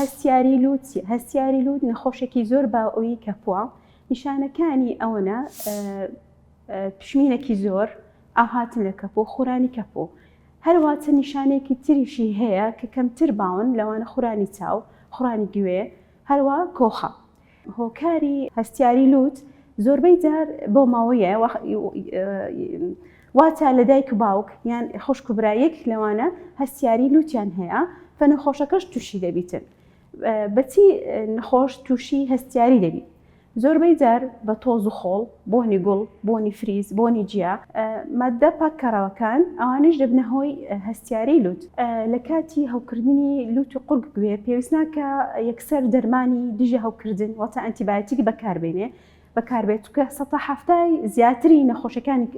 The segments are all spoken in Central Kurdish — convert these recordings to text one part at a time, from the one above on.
هەستیاری لووت چیە؟ هەستیاری لووت نەخۆشێکی زۆر باوەوی کەپووە نیشانەکانی ئەوەنە پشمینەکی زۆر ئاهاتن لە کەپوو خورانی کەپوو هەرواتە نیشانێکی تریشی هەیە کە کەمتر باون لەوانە خورانی چاو خورانی گوێ هەروە کۆخە هۆکاری هەستیاری لوت زۆربەی جار بۆ ماوەیە واتە لە دایک و باوک یان خوشک و برایەک لەوانە هەستیاری لوتیان هەیە فەنەخۆشەکەش تووشی دەبیتن بەچی نەخۆش تووشی هەستیاری دەبیت زۆربەی جار بە تۆز و خۆڵ بۆنی گوڵ، بۆنی فریز، بۆنی جیا، ماددە پاککەڕەوەکان، ئەوانەش دەبنە هۆی هەستیاری لووت. لە کاتی هەوکردنی لووت و قورگ گوێ، پێویست ناکا یەکسەر دەرمانی دژە هەوکردن واتە ئەنتیبایۆتیک بەکار بێنێ بەکار بێت چونکە سەتا حەفتا ی زیاتری نەخۆشیەکانی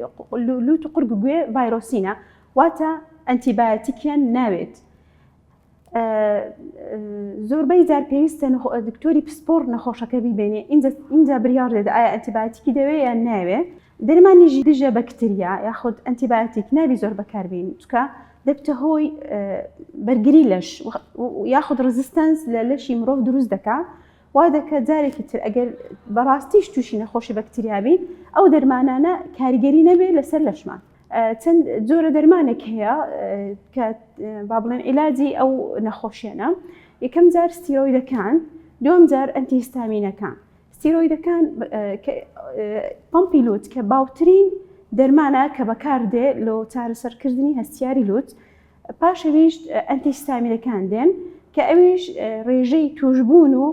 لووت و قورگ گوێ ڤایرۆسینە واتە ئەنتیبایۆتیکیان ناوێت. زۆربەی جار پێویستە دکتۆری پسپۆر نەخۆشەکە بیبێنێ اینجا بریاڕ دێت ئایا ئەتیباتیکی دەوێ یان ناوێ دەرمانیژی دژە بەکتریا یاخود ئەتیباتیک نابی زۆر بەکاربین چکە دەبتە هۆی بەرگری لەش یاخود ڕزستنس لە لەشی مرۆڤ دروست دەکا وا دەکە جارێکی تر ئەگەر بەڕاستیش تووشی نەخۆشی بەکتریابی ئەو دەرمانانە کاریگەری نەبێت لەسەر لەشمان چەند جۆرە دەرمانێک هەیە کە با بڵێن عیلاجی ئەو نەخۆشیێنە یەکەم جار ستیرۆیدەکان دوم جار ئەتیستامینەکان ستیرۆیدەکان پمپی لوت کە باوترین دەرمانە کە بەکاردێ لۆ چارەسەرکردنی هەستیاری لوت پاشەویش ئەتیستامینەکان دێن کە ئەویش ڕێژەی توشببوون و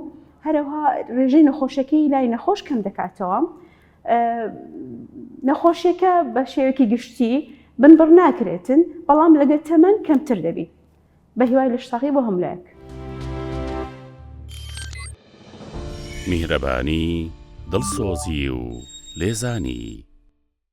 هەرەوها ڕێژەی نەخۆشەکەی لای نەخۆش کەم دەکاتەوە نەخۆشیەکە بە شێوەیەکی گشتی بنبڕ ناکرێتن بەڵام لەگە تەمەەن کەمتر دەبیت بە هیوای لە شتاقی بۆ هەملایەک میهرەبانی دڵسۆزی و لێزانی